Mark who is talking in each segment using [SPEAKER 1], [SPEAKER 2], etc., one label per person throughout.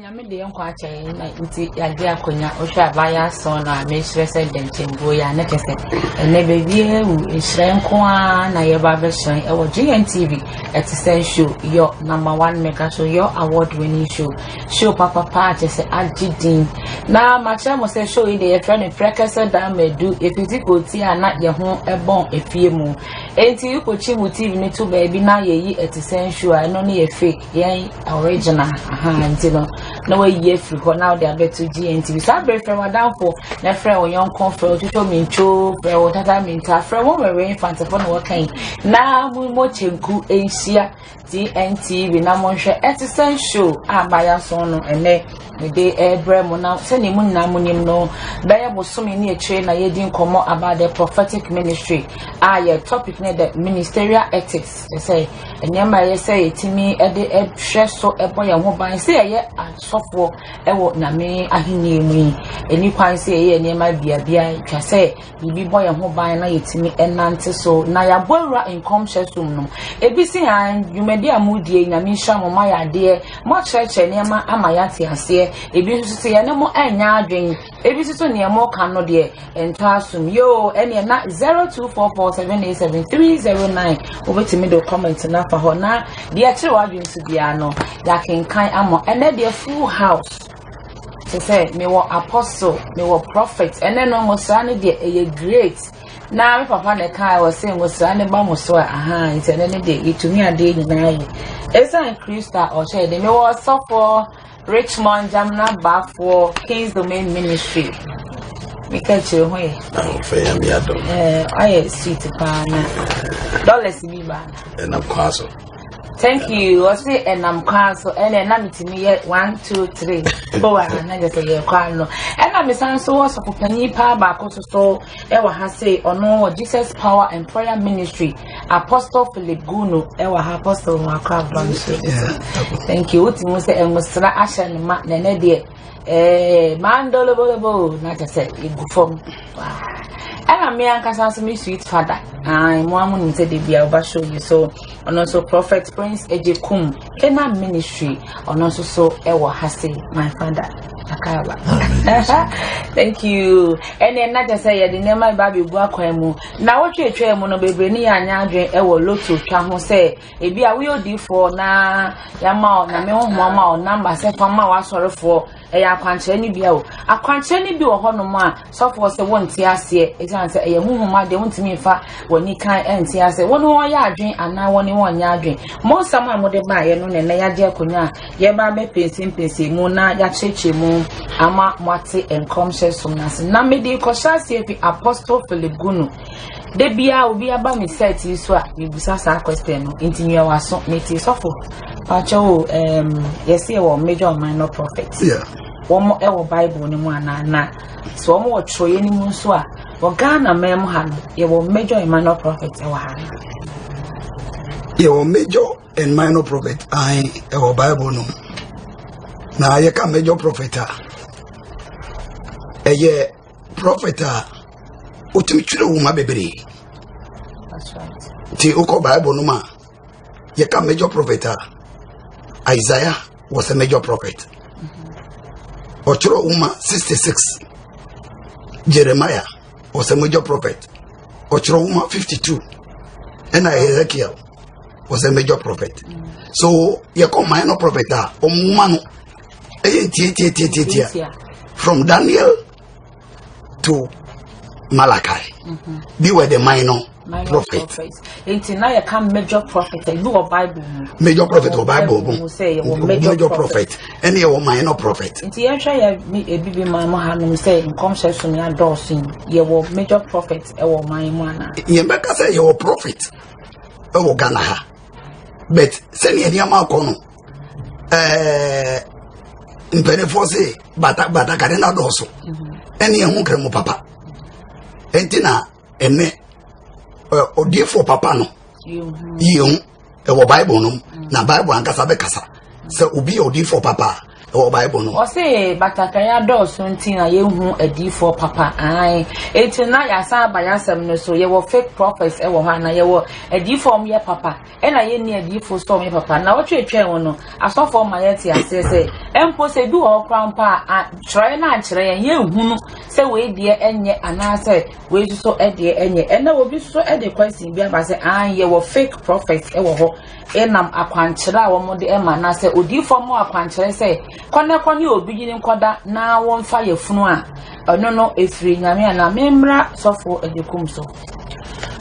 [SPEAKER 1] Nyame de yɛn nkwa akyɛ yɛn na nti yɛagye akonnwa wohwɛ a baayɛ asɔn no a mehyerɛ sɛ dɛnkyɛmbuo yɛ a na kyɛ sɛ ɛnɛ baabiaa wu nhyerɛn nko ara na yɛba abɛhyerɛn ɛwɔ GNTV ɛte sɛ show yɔ number one mega show yɔ award winning show show papapa a kyɛ sɛ agye din na makyerɛ mo sɛ show yi de yɛfrɛ no prɛkɛsɛ daa madu ɛfiti kɔti a na yɛ ho ɛbɔn efie mu ɛnti wokɔkyi mu TV no to baabi na yɛyi ɛte sɛ show a ɛno ne yɛ fake Yɛn original ahaa nti no na wayi afiri hɔ na ɔde abɛto GNTV saa bere frɛ w'adamfo na frɛ wo yɔnko frɛ wo twitwo mintwo frɛ wo tata minta frɛ wo wɛwɛ infantefo na wɔka yi na mo mo kyenku nhyia GNTV na monhwɛ ɛte sɛ show a maya so no ɛnɛ mede ɛrebrɛ mo na sɛnea mo nyinaa mo nim no bɛyɛ bosome ne akyire na yɛdi nkɔmmɔ about the prophetic ministry a yɛ topic ne the ministerial ethics Te sɛ nneɛma a ɛyɛ sɛ yɛtumi de hwɛ so bɔ yɛn ho ban sɛ yɛyɛ asɔfoɔ wɔ nyame ahenni mu yi ɛni kwan sɛ yɛyɛ nneɛma biabia twa sɛ biribi bɔ yɛn ho ban na yɛtumi nante so na yɛabɔ awura nkɔmhyɛ som no ebi si ha dwumadi a modie nyame nhyira mo ma yɛ adeɛ moakyerɛkyerɛ nneɛma ama yɛate aseɛ ebi nso sɛ yɛne mo ɛnyɛ adwene Ebi nso so nea ɛmɔ ka no deɛ ɛntɔ asom yoo ɛneɛ na zero two four four seven eight seven three zero nine wobɛtumi de comment no afa hɔ na deɛ ɛkyerɛ w'adwene so biara no yɛakenkan ama ɛnɛ deɛ full house te sɛ mewɔ apostle mewɔ prophet ɛnɛ no ngosra no deɛ ɛyɛ great na me papa na ɛka ɛwɔ sɛ ngosra no ba mo so a aha nti ɛnɛ no deɛ yɛtumi adeɛ nyinaa yɛ ɛsiane kristo a ɔhyɛ yɛ de mewɔ ɔsɔfoɔ Richmond Jamina Baafoɔ King's Domain Ministry me ka kyerɛ ho yɛ ahofɛ nyame adom ayɛ sweet paa na dollars bi ba ɛnam kwan so
[SPEAKER 2] thank you
[SPEAKER 1] ɔse ɛnam kwan so ɛna ɛna metumi yɛ one two three bɔ wɔ ha na gye sɛ yɛ kwan no ɛna mesan nso wɔ sɔfo panyin paa baako so so ɛwɔ ha se ɔno wɔ jesus power and prayer ministry Apostle Philip Gunu ɛwɔ ha apostle mu akɔ abam so thank you wotu mu sɛ ɛnwosra ahyɛ ne ma na ɛnɛ deɛ ɛɛ mandolobolobo na kyɛ sɛ egu fam ɛna mmea ankasa nso me sweet father ayi mo amu nim sɛ debi a ɔba show yi so ɔno nso prophet prince egye kum kena ministry ɔno nso so ɛwɔ ha se my father akaba thank you ɛna ɛna kyɛ sɛ yɛde nneɛma ba abegu akwan mu. Nnawɔtwe a etwaam no, bebree ne yɛn anyɛ adwene wɔ lotto twa ho sɛ ebi a woyɛ odiifoɔ na yɛama wo nyame honhom ama wo namba sɛ fa ma w'asɔrefoɔ ɛyɛ akwankyerɛ no bi o akwankyerɛ no bi wɔ hɔnom a sɔfoɔ sɛ wonte aseɛ ɛsiane sɛ ɛyɛ honhom adeɛ wontumi mfa w'ani kan ɛnte aseɛ wɔne wɔn yɛ adwene anaa wɔne wɔn nyɛ adwene mo nsɛm a mode baeɛ no na ɛnɛ yɛagye akonnwa a Yɛreba abɛpɛnsee mpɛnsee mu na yɛakyerɛkyerɛ mu ama moate nkɔmhyɛ som no ase. Na mede rekɔhyɛ aseɛ fi Apostle Philip Gunu. Da biara obi aba me site yi so a mebusa saa question no nti mia waso mete sɔfo pakyɛ o um, yɛse yɛwɔ major or minor prophet yeah. wɔn
[SPEAKER 2] ɛwɔ
[SPEAKER 1] bible no mu anaa na so wɔn wɔ twerɛeɛ no mu nso a wɔ ghana man mu ha no yɛwɔ major and minor prophet ɛwɔ ha no yɛwɔ
[SPEAKER 2] major and minor prophet ae ɛwɔ bible no na yɛka major prophet a ɛyɛ prophet a wotumi twerɛ wo ma bebree nti
[SPEAKER 1] wokɔ bible
[SPEAKER 2] no ma yɛka major prophet a isaiah was a major prophet ɔtwerɛ wo ma 66 jeremiah was a major prophet ɔtwerɛ wo ma 52 ɛna ezekiel was a major prophet so yɛkɔ minor prophet a ɔmoma no ɛyɛ ntiatiatiatiatia from daniel to malachi mm -hmm. they were the minor prophet. Nti na yɛ
[SPEAKER 1] ka major prophet ebi wɔ bible mu. Major prophet wɔ
[SPEAKER 2] bible mu. Sɛ yɛ wɔ major
[SPEAKER 1] prophet
[SPEAKER 2] ɛna yɛ wɔ minor prophet. Nti yɛn hwɛ yɛ
[SPEAKER 1] ebi bi maa mu ha nom sɛ nkɔmhyɛ so ni adɔɔso yi yɛ wɔ major prophet ɛwɔ ɔman mu ana. Yɛn bɛ ka sɛ yɛ wɔ
[SPEAKER 2] prophet. wɔ ghana ha but sɛdeɛ nneɛma akɔ no ɛɛ mpanimfoɔ se bata batakari na dɔɔso ɛne ɛho nkramu papa ɛnti na ɛnɛ ɔdiefoɔ papa no yie ho ɛwɔ bible no mu na bible ankasa bɛkasa sɛ obi yɛ ɔdiefoɔ papa a ɛwɔ bible no. ɔse batakari
[SPEAKER 1] adɔɔso nti na yɛhu adiifoɔ papa ae enti na yɛasan aba yɛasɛm no so yɛwɔ fake prophets ɛwɔ hɔ ana yɛwɔ adiifoɔ ɔmo yɛ papa ɛna yɛnni adiifoɔ so ɔmo yɛ papa na wɔtwetwɛn ho no asɔfoɔ ma yɛte aseɛ sɛ ɛmpo sɛ bi wɔ hɔ koraa mpo a kyerɛɛ no ankyerɛ yɛn yɛnhunu sɛ wei deɛ ɛnyɛ anaasɛ wei nso ɛdeɛ ɛnyɛ ɛna obi nso ɛde question bi aba sɛ ae yɛwɔ fake prophets ɛwɔ hɔ nam akwankyerɛ a wɔde ma anaasɛ odiyifoɔ mmɔ akwankyerɛ sɛ kɔ na kɔ ne obi yere nkɔda na wɔmfa yafunu a ɛno no ɛfiri nyame a na memmra sɔfoɔ agyakum so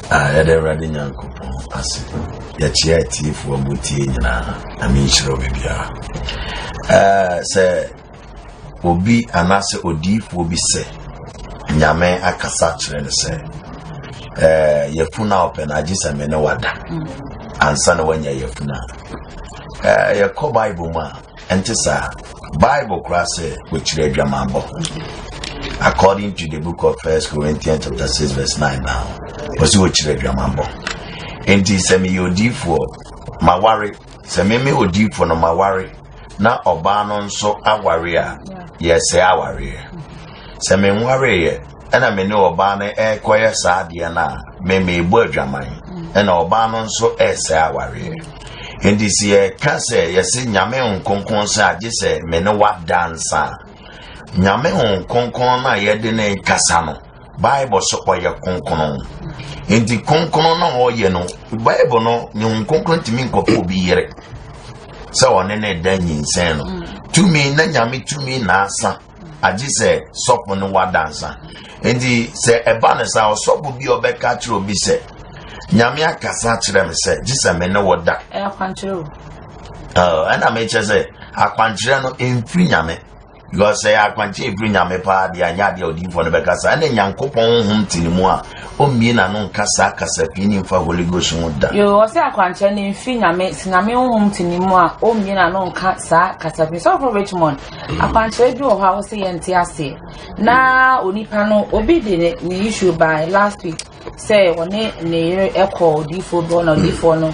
[SPEAKER 3] yɛde awurade nyankopɔn ase yɛkyea atiefoɔ mu tie nyinaa na menhyira obi biara sɛ obi anaasɛ odiyifoɔ bi sɛ nyame akasa kyerɛ no sɛ eh, yɛfunu a ɔpɛ no agye sɛ me ne wada ansa na wanya yɛfunu a eh, yɛkɔ bible mu a ɛnte saa bible koraa sɛ wɔkyerɛ adwamammɔ according to the book of first corinthians chapter 6 verse 9 now wɔsi wɔkyerɛ adwamammɔ enti sɛ meyɛ odiyifoɔ maware sɛ meme odiyifoɔ no maware na ɔbaa no nso aware a, yɛsɛe awareɛ. Sɛ menwareeɛ ɛna me ne ɔbaa no ɛrekɔyɛ saa adeɛ no a, me merebɔ adwaman ɛna ɔbaa no nso ɛresɛe awareɛ. Enti sɛ yɛka sɛ yɛse nyame ho kronkron sɛ agye sɛ me ne wada nsa a, nyame ho kronkron no a yɛde ne kasa no bible sɛ ɔyɛ kronkron nti kronkron na ɔyɛ no bible no ne ho kronkron ntumi nkɔfo obi yere sɛ ɔne ne da nyinsɛn no tumi na nyame tumi na asa agye sɛ sɔfo no wadansa nti sɛ ɛba no sɛ ɔsɔfo bi a ɔbɛka kyerɛ obi sɛ nyame akasa kyerɛ me sɛ gye sɛ me ne wɔ da ɛna mekyɛ sɛ akwankyerɛ no ɛmfiri nyame Because sɛ yɛ akwankyɛ efiri nyame paa deɛ anyɛ adeɛ a odiyifoɔ no bɛka saa ɛna nyankopɔn honhom te ne mu a ɔmmie n'ano nka saa kasa pii ne mfa holy ghost ho da. Yoo ɔsɛ akwankyɛ
[SPEAKER 1] no mfiri nyame sɛ nyame honhom te ne mu a ɔmmie n'ano nka saa kasa pii sɔfo Richmond akwankyerɛ bi wɔ hɔ a wɔsɛ yɛnte aseɛ na onipa no obi de ne ne issue by last week sɛ ɔne ne yere kɔ odiyifoɔ bi hɔ na odiyifoɔ no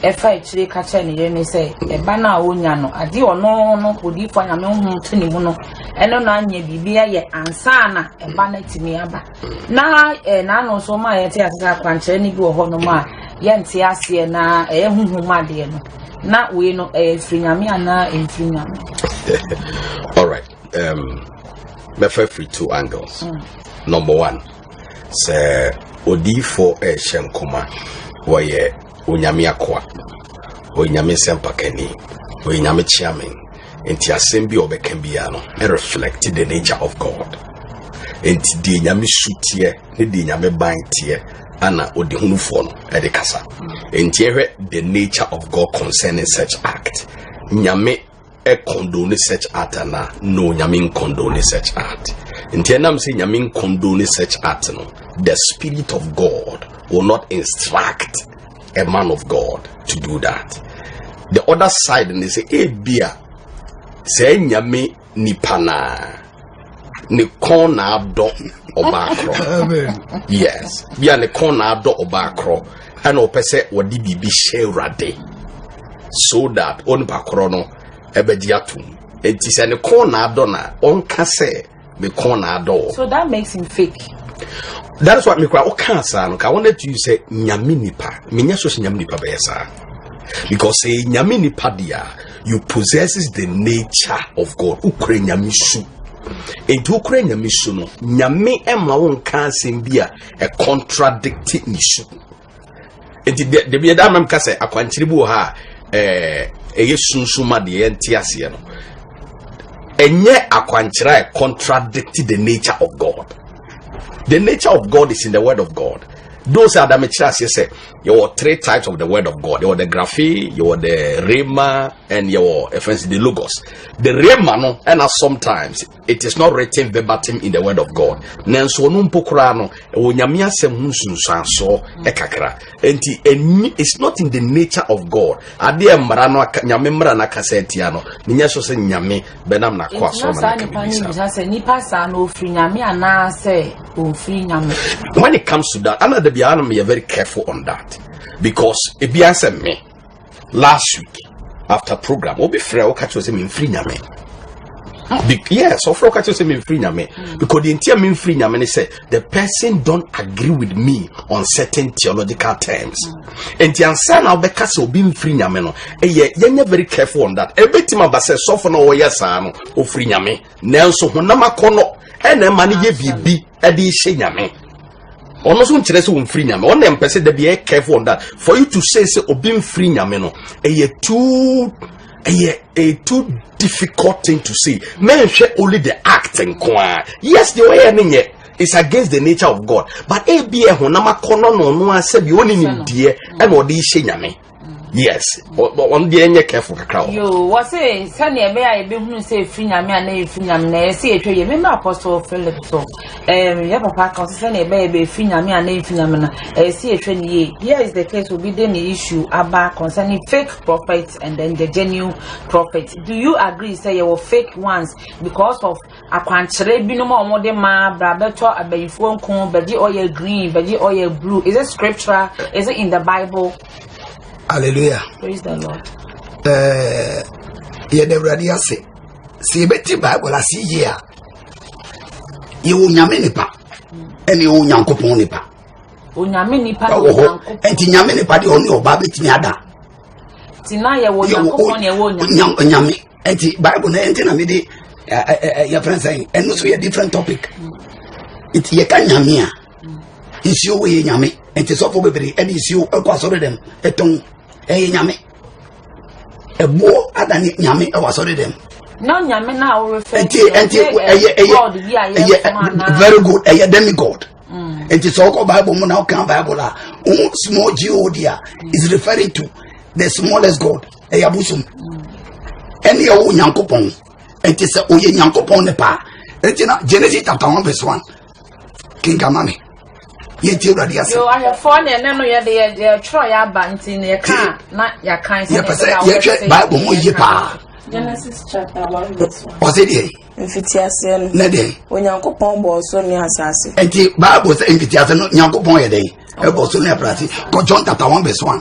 [SPEAKER 1] ɛfa akyire ka kyerɛ ne yere no sɛ ɛba no a ɔnya no adeɛ ɔno no odiyifoɔ nyame honhom to ne mu no ɛno na anyɛ biribi ayɛ ansa na ɛba no atumi aba na ɛɛ n'ano so ma yɛte ase sɛ akwankyerɛ no bi wɔ hɔ nom a yɛnte aseɛ na ɛyɛ honhom adeɛ no na wei no ɛyɛ firi nyame anaa ɛmfiri nyame all
[SPEAKER 4] right um, bɛfa firi two angles mm. number one Sɛ odiyifoɔ rehyɛ nkɔma, wɔyɛ onyame akoa, wɔyɛ nyame nsɛmpakani, wɔyɛ nyame kyeame. Nti asɛm bi a ɔbɛka biara no, reflect the nature of God. Nti deɛ nyame su teɛ ne deɛ nyame ban teɛ ana ɔde hunufoɔ no ɛde kasa. Nti ɛhwɛ the nature of God concerning such act. Nyame ɛkɔndone search art anaa no nyame nkɔndone search art nti ɛnam sɛ nyame nkɔndone search art no the spirit of god will not instruct a man of god to do that the other side ne sɛ ebia sɛ nyame nipa naa ne kɔn na adɔ ɔbaa korɔ
[SPEAKER 2] yes bi a ne
[SPEAKER 4] kɔn na adɔ ɔbaa korɔ ɛna ɔpɛ sɛ wɔde biribi hyɛ awurade so that onipa korɔ no ɛbɛgye atom eti sɛ ne kɔn na adɔ na ɔnka sɛ me kɔn na adɔ wɔ. so that makes him fake.
[SPEAKER 1] that is
[SPEAKER 4] why mi kura ɔka saa no ka wɔn etu yi sɛ nyame nipa mi nya so sɛ nyame nipa bɛyɛ saa because sɛ nyame nipa deɛ. you possesses the nature of God wokura nyame su nti wokura nyame su no nyame ɛma wo nka asɛm bi a ɛcontradicte ne su nti dabi ɛda amam ka sɛ akwankyere bi wɔ ha a ɛyɛ sunsum a deɛ ɛnte aseɛ no ɛnyɛ akwankyerɛ a ɛcontradicte the nature of God the nature of God is in the word of God those are the mekyerɛ aseɛ sɛ yɛwɔ three types of the word of god yɛwɔ the graphe yɛwɔ the rhema and yɛwɔ ɛfɛnsi the logos the rhema no ɛna sometimes it is not written verbatim in the word of god nanso ɔno mpo koraa no ɛwɔ nyame asɛm ho nsunsuansoɔ ɛkakra nti ɛni it's not in the nature of god adeɛ mmara no nyame mmara no akasa atia no menyɛ so sɛ nyame bɛnam n'akoa so ama no ka bibisa sɛ nipa
[SPEAKER 1] saa na ofiri nyame anaasɛ ofiri nyame when it comes to
[SPEAKER 4] that ana da biara na very careful on that because ebi asɛ me last week after program obi frɛ wo ka kyerɛ sɛ memfiri nyame yes ɔfrɛ wo ka kyerɛ sɛ memfiri nyame because deɛ ntia memfiri nyame ne sɛ the person don't agree with me on certain theological terms nti ansa na wobɛka sɛ obi mfiri nyame no ɛyɛ yɛnyɛ very careful on that ɛbɛtumi aba sɛ sɔfo no ɔyɛ saa no ɔfiri nyame nanso honam akɔnnɔ ɛna ɛma no yɛ biribi ɛde hyɛ nyame ɔno nso nkyerɛ sɛ wɔmfiri nyame ɔna mpɛ sɛ da bi ɛyɛ careful on that for you to say sɛ obi mfiri nyame no ɛyɛ too ɛyɛ a too difficult thing to say mɛnhwɛ only the act nko ara yes deɛ ɔyɛ ne nyɛ it's against the nature of god but ebi ɛhonam akɔnɔ na ɔno asɛ bi ɔne nim deɛ ɛna ɔde hyɛ nyame yes ɔno deɛ ɛnyɛ careful kakra wɔ. yoo wɔsi
[SPEAKER 1] sɛnea ɛbɛyɛ a yɛbɛhunu sɛ efiri nyame a na efiri nyame na yɛsi ehwɛ yɛ mímú apɔsɔ philip so. Um, yɛ papa ka ɔsɛ sɛnea ɛbɛyɛ bɛ efi nyame a na efi nyame na ɛyɛ si ehwɛ ne yie here is the case obi de ne issue aba concerning fake prophets and then the genuine prophets do you agree sɛ yɛwɔ fake ones because of akwankyerɛ binom a wɔn de ma bra bɛtɔ abayifoɔ nko bɛgye ɔyɛ green bɛgye ɔyɛ blue is it scriptural is it in the bible. hallelujah
[SPEAKER 2] praise the lord.
[SPEAKER 1] ɛɛ eh,
[SPEAKER 2] yɛn awurade ase sɛ yɛbɛti bible ase yie a. yɛwɔ onyame nipa ɛne yɛwɔ onyankopɔn nipa onyame
[SPEAKER 1] nipa ɛwɔ hɔ ɛnti
[SPEAKER 2] nyame nipa deɛ ɔne ɔba bɛtumi ada
[SPEAKER 1] nyame ɛnti
[SPEAKER 2] bible no ɛnti na mede yɛfrɛ sɛ ɛno so yɛ different topic nti yɛka nyame a nsuo wɔ yɛ nyame ɛnti sɔfo bebree ɛne nsuo ɛkɔ asɔre dɛm ɛtɔn ɛyɛ nyame ɛboɔ adane nyame ɛwɔ asɔre dɛm na nyame no a
[SPEAKER 1] worefɛ nti nti ɛyɛ ɛyɛ ɛyɛ
[SPEAKER 2] very good ɛyɛ demi god mm. nti sɛ ɔkɔ bible mu na ɔka bible a ohun small god a is referring to the smallest god ɛyɛ abosom mm. ɛne ɛwɔ nyankopɔn nti sɛ ɔyɛ nyankopɔn ne paa nti na genesis chapter one verse one. kenkama me yɛnti awurade
[SPEAKER 1] ase yo ahwɛfoɔ ne ɛnɛ no yɛde yɛtwerɛ yɛ aba nti ne yɛka na yɛkan sɛ yɛpɛ sɛ yɛhwɛ
[SPEAKER 2] bible mu yie paa Genesis chapter
[SPEAKER 5] one verse one. ɔsɛ deɛ
[SPEAKER 2] mfitiaseɛ no
[SPEAKER 5] ne deɛ onyankopɔn
[SPEAKER 2] bɔɔ so
[SPEAKER 5] ne asase nti bible sɛ
[SPEAKER 2] mfitiaseɛ no nyankopɔn yɛ dɛn ɛbɔ so ne aprase kɔ john chapter one verse one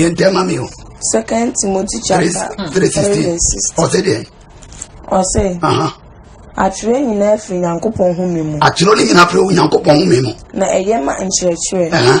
[SPEAKER 2] yɛn tɛ ma mi o. second timothy
[SPEAKER 5] chapter three sixteen ɔsɛ deɛ.
[SPEAKER 2] ɔsɛ.
[SPEAKER 5] atwerɛ nyinaa firi nyankopɔn home mu. atwerɛ no nyinaa firi
[SPEAKER 2] nyankopɔn home mu. na ɛyɛ ma
[SPEAKER 5] nkyerɛkyerɛ.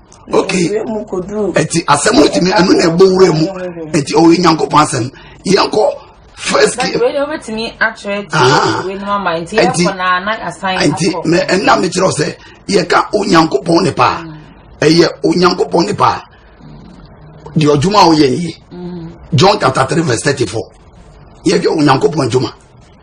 [SPEAKER 2] ok ɛti asɛm no tumi ɛno na ɛbɔ wura mu ɛti ɔwɔ nyankopɔn asɛm yɛnkɔ first
[SPEAKER 1] game ɛti ɛti mɛ ɛnna
[SPEAKER 2] mi kyerɛ sɛ yɛka onyankopɔn ne paa mm. ɛyɛ onyankopɔn ne paa deɛ ɔdwuma a ɔyɛ nie mm. john chapter three verse thirty four yɛdwa onyankopɔn dwuma.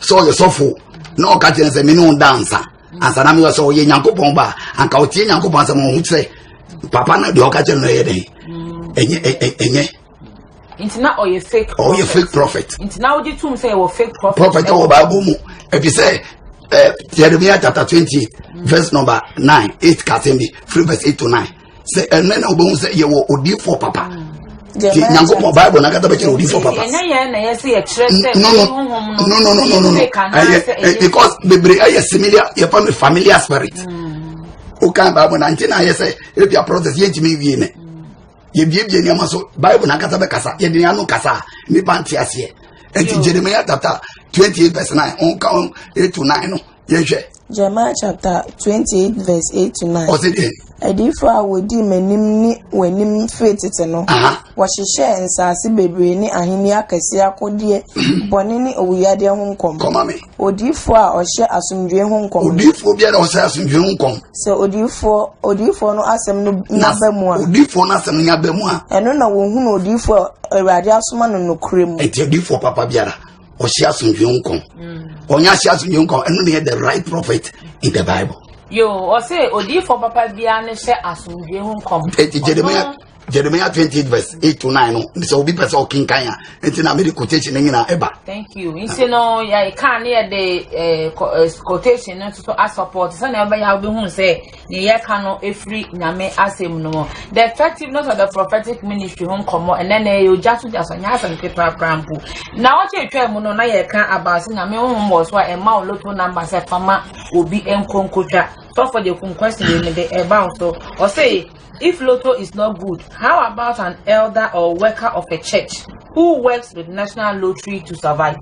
[SPEAKER 2] sɛ ɔyɛ sɔfo na ɔka kyerɛ sɛ mene wo da ansa ansa na meyɛ sɛ ɔyɛ nyankopɔn ba anka ɔtie nyankopɔn asɛm ɔho kyerɛ papa no deɛ ɔka kyerɛ no ɛyɛ dɛn ɛnyɛ ɛnyɛ nti
[SPEAKER 1] na ɔyɛ fake prophet ɔyɛ fake prophet nti na wogye tom sɛ ɛwɔ fake
[SPEAKER 2] prophet prophet ɛwɔ bible mu ɛfi sɛ eh, Jeremiah chapter twenty verse number nine eight kasɛm bi three verse eight to nine sɛ ɛnɛ na wobɛhu sɛ yɛwɔ odiifoɔ papa nti nyankopɔn bible no ankasa bɛkyerɛ odiifoɔ papa nonononononoɛyɛ because bebree ɛyɛ similia yɛfa no familiar spirit wokan hmm. bible na nti na ayɛ sɛ ebia process yɛntumi wie ne yɛbiebie nneɛma so bible no ankasa bɛkasa yɛde ne ano kasa a nnipa nte aseɛ ɛnti jeremia chapter 28 verse 9 ɔnka 8 to 9 no yɛhwɛ. Jeremiah chapter twenty
[SPEAKER 5] eight verse eight to nine. ɔsi deɛ. adiifo
[SPEAKER 2] a wodi
[SPEAKER 5] m'anim ne w'anim firi tete no. wɔhyehyɛɛ nsaase bebree ne ahenni akɛse akodeɛ mhm. bɔne ne owuyadeɛ ho nkɔm. kɔma mi. odiifo
[SPEAKER 2] a ɔhyɛ
[SPEAKER 5] asomdwoe ho nkɔm. odiifo bi a ɔhyɛ
[SPEAKER 2] asomdwoe ho nkɔm. sɛ odiifo
[SPEAKER 5] odiifo no asɛm no nyaba mu a. odiifo no asɛm no nyaba
[SPEAKER 2] mu a. ɛno na wɔhunu odiifo
[SPEAKER 5] a awurade asoma no nokorɛ mu. ɛti odiifo papa biara.
[SPEAKER 2] ɔhyɛ asomdwe nkɔm ɔnyɛ ahyɛ asomdwe nkɔm ɛno na yɛ the right prophet in the bible. yoo ɔsɛ
[SPEAKER 1] odiifo papa biara ne hyɛ asomdwe ho nkɔm. eti jeremiah
[SPEAKER 2] jeremiah twenty eight verse eight to nine no sɛ obi pɛ sɛ ɔkenkan a nti na mede quotation no nyinaa ɛba. thank you nti no
[SPEAKER 1] yɛ kaa ne yɛ de eh, eh, quotation no nso asɔpɔt sɛnea ɛbɛyɛ a wobɛhu sɛ Nea yɛka no firi Nyame asɛm no mu. The effectiveness of the prophetic ministry ho nkɔmmɔ ɛnɛ na ɛyɛ ogya so gya so nyɛ asɛm ketewa koraa mpo. Na ɔkyɛ atwa mu no na yɛka about sɛ Nyame honhom wɔ so a ɛma wo loto number sɛ fama obi nkonkotwa. Sɔfo de kum question wei no de ɛba wo so. Ɔse if loto is not good, how about an elder or worker of a church who works with national lottery to survive?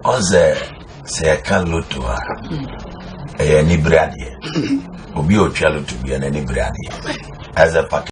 [SPEAKER 1] Ɔsɛ
[SPEAKER 3] sɛ yɛka loto a ɛyɛ anibere adeɛ obi a ɔtwa loto bia n'anibere adeɛ as a package